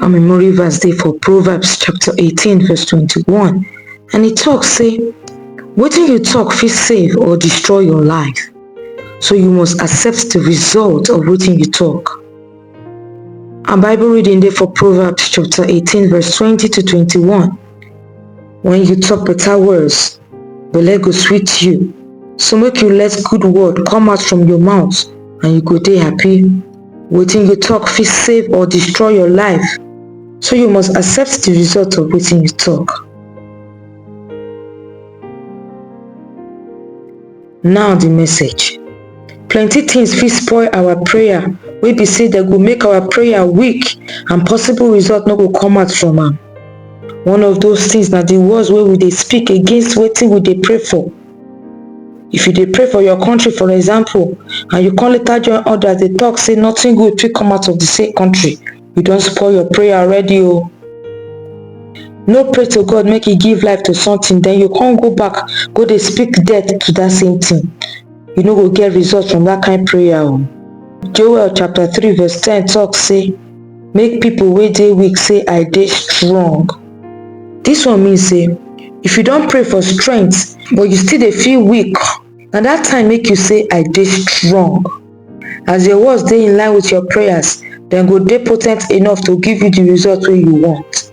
Our memory verse dey for Proverbs chapter 18 verse 21 and e talk say wetin you talk fit save or destroy your life so you must accept the result of wetin you talk. Our Bible reading dey for Proverbs chapter 18 verse 20 to 21. When you talk better words, belle go sweet you. So make you let good word come out from your mouth and you go dey happy. Wetin you talk fit save or destroy your life, so you must accept the result of wetin you talk. Now the message. Plenty things fit spoil our prayer wey be say dem go make our prayer weak and possible result no go come out from am. One of those things na the words wey we dey speak against wetin we dey pray for. If you dey pray for your country for example and you come later join others dey talk say nothing good fit come out of the same country, you don spoil your prayer already o. Oh. No pray to God make he give life to something then you come go back go dey speak death to that same thing. You no go get result from that kind prayer o. Oh. Joel chapter 3 verse 10 talk say make pipo wey dey weak say i dey strong dis one mean say if you don pray for strength but you still dey feel weak na dat time make you say i dey strong as your words dey in line with your prayers dem go dey potent enough to give you di result wey you want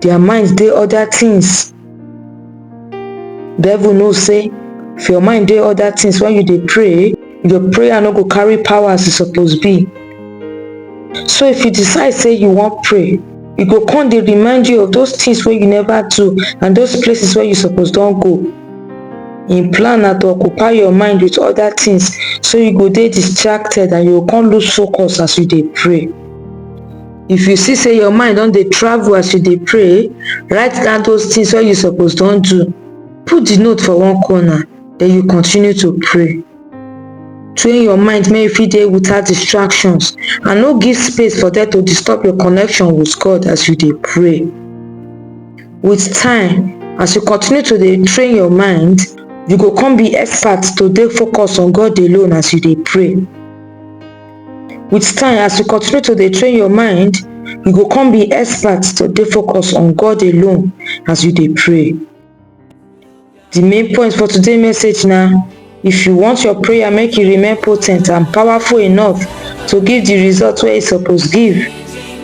their mind dey other things devil know say if your mind dey other things when you dey pray your prayer no go carry power as e suppose be so if you decide say you wan pray e go come dey remind you of those things wey you never do and those places wey you suppose don go im plan na to occupy your mind with other things so you go dey distracted and you go come lose focus as you dey pray if you see say your mind don dey travel as you dey pray write down those things wey you suppose don do put the note for one corner then you continue to pray train your mind make you fit dey without distractions and no give space for them to disturb your connection with god as you dey pray with time as you continue to dey train your mind you go come be expert to dey focus on god alone as you dey pray With time, as you continue to dey train your mind, you go come be expert to dey focus on God alone as you dey pray. The main point for today's message na if you want your prayer make e remain potent and powerful enough to give the result wey e suppose give,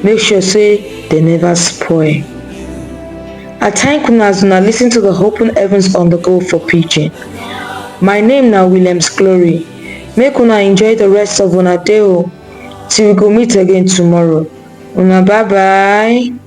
make sure say dem never spoil. I thank una as una listen to the Open Heavens on the Go for Pidgin. My name na Williams Glory. make una enjoy the rest of una day o till we go meet again tomorrow una bye bye